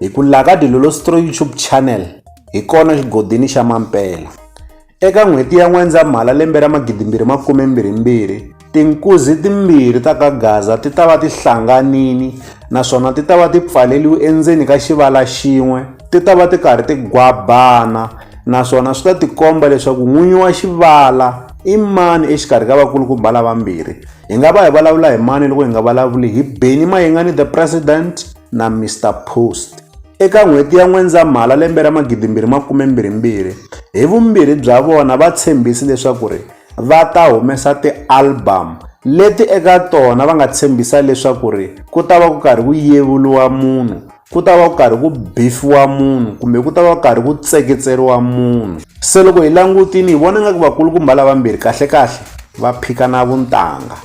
Hi ku la ka Dilolostro YouTube Channel hi kona xigodini xa Mampela. Eka n'hweti ya N'wendzamhala lembe ra 2022, tinkuzi timbirhi ta ka Gaza ti ta va ti hlanganini naswona ti ta va ti pfaleriwe endzeni ka xivala xin'we, ti ta va ti karhi ti gwabana naswona swi ta tikomba leswaku n'winyi wa xivala i mani exikarhi ka vakulukumba lavambirhi. Hi nga va hi vulavula hi mani loko hi nga vulavuli hi Benny Mayengani the President? na Mister Post. Eka n'hweti ya N'wendzamhala lembe ra 2022, hi vumbirhi bya vona va tshembhisi leswaku ri va ta humesa ti album leti eka tona va nga tshembhisa leswaku ri ku ta va ku karhi ku yevuriwa munhu ku ta va ku karhi ku bifiwa munhu kumbe ku ta va ku karhi ku tseketseriwa munhu se loko hi langutini hi vona nga ku vakulukumba lavambirhi kahlekahle va phikana vuntanga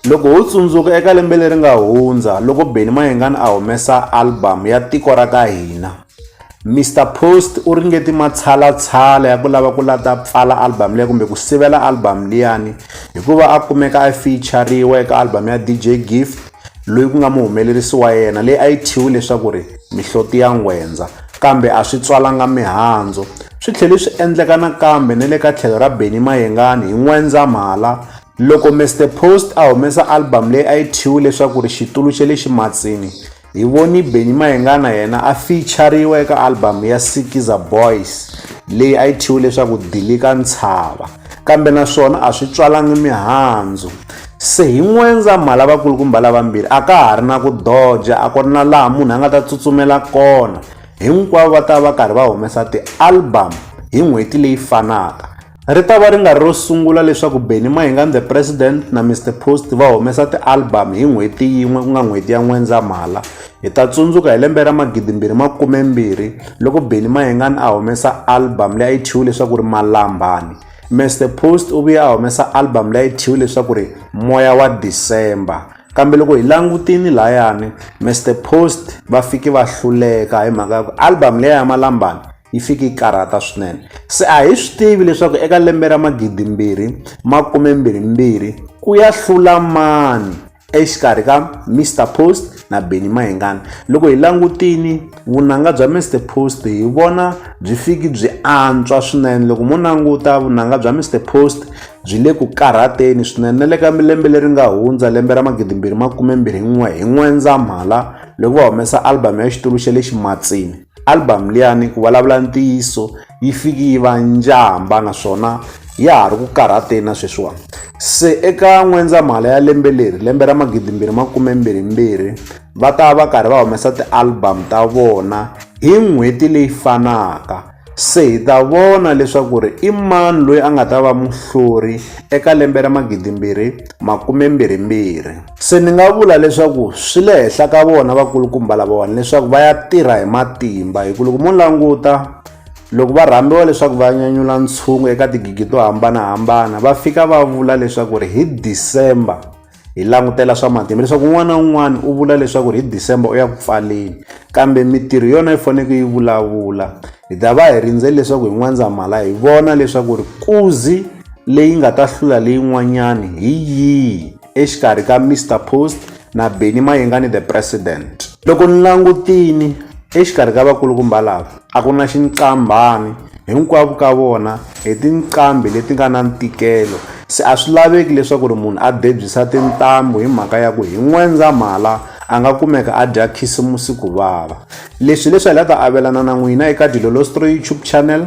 Loko ho tsundzuka eka lembe leri nga hundza loko Benny Mayengani a humesa album ya Tiko ra ka hina, Mister Post u ringeti matshalatshala ya ku lava ku lata pfala album leyi kumbe ku sivela album liyani hikuva a kumeka a feature-riwa eka album ya DJ Gift loyi ku nga muhumelerisi wa yena leyi a yi thyiwe leswaku ri mihloti ya ngwendza kambe a swi tswalanga mihandzu swi tlhele swi endleka nakambe ni le ka tlhelo ra Benny Mayengani hi N'wendzamhala Loko Mister Post a humesa album leyi a yi thyiwe leswaku ri Xitulu xa le Ximatsini, hi voni Benny Mayengana yena a feature-riwa eka album ya Sikiza Boys leyi a yi thyiwe leswaku Dilika Ntshava. Kambe na swona a swi tswalangi mihandzu. Se hi N'wendzamhala vakulukumba lavambirhi a ka ha ri na ku doja, a ku ri na laha munhu a nga ta tsutsumela kona. Hinkwavo va ta va va karhi va humesa ti-album hi n'hweti leyi fanaka. Ri ta va ri nga ri ro sungula leswaku Benny Mahingani the President na Mr Post va humesa ti-album hi n'hweti yin'we ku nga n'hweti ya N'wendzamhala. Hi ta tsundzuka hi lembe ra magidimbirhi makumembirhi loko Benny Mahingani a humesa album leyi a yi thyiwe leswaku ri Malambani. Mr Post u vuye a humesa album leyi a yi thyiwe leswaku ri Moya wa December. Kambe loko hi langutini layani Mr Post va fike va hluleka hi mhaka ya ku album leyi ya Malambani yi fike yi karhata swinene se a hi swi tivi leswaku eka lembe ra magidimbirhi makumembirhimbirhi ku ya hlula mani exikarhi ka mr post na beni mahingana loko hi langutini vunanga bya mr post hi vona byi fiki byi antswa swinene loko mo languta vunanga bya mr post byi le ku karhateni swinene na le ka lembe leri nga hundza lembe ra magidimbirhi makumembirhi n'we hi n'wendzamhala loko va humesa album ya xitulu xa le ximatsini Album liyani ku vulavula ntiyiso yi fiki yi va njhamba naswona ya ha ri ku karhateni na sweswiwani se eka n'wendzamhala ya lembe leri lembe ra magidi mbirhi makume mbirhi mbirhi va ta va karhi va humesa ti-album ta vona hi n'hweti leyi fanaka se hi ta vona leswaku ri i mani loyi a nga ta va muhluri eka lembe ra magidi mbirhi makume mbirhi mbirhi se ni nga vula leswaku swi le henhla ka vona vakulukumba lavawani leswaku va ya tirha hi matimba hi ku loko mo languta loko va rhambiwa leswaku va nyanyula ntshungu eka tigigi to hambanahambana va fika va vula leswaku ri hi december hi langutela swa matimba leswaku un'wana na un'wana u vula leswaku ri hi december u ya ku pfaleni kambe mitirho yona yi faneleke yi vulavula hi ta va hi rindzeli leswaku hi n'wandzamhala hi vona leswaku ri kuzi leyi nga ta hlula leyin'wanyani hi yihi exikarhi ka Mister Post na Benny Mayengani the President. Loko ni langutini exikarhi ka vakulukumba lava a ku na xinqambhani hinkwavo ka vona hi tinqambi leti nga na ntikelo se a swi laveki leswaku ri munhu a debyisa tintambu hi mhaka ya ku hi n'wendzamhala a nga kumeka a dya khisimusi ku vava leswi leswi hi la ta avelana na n'wina eka dilolostro youtube channel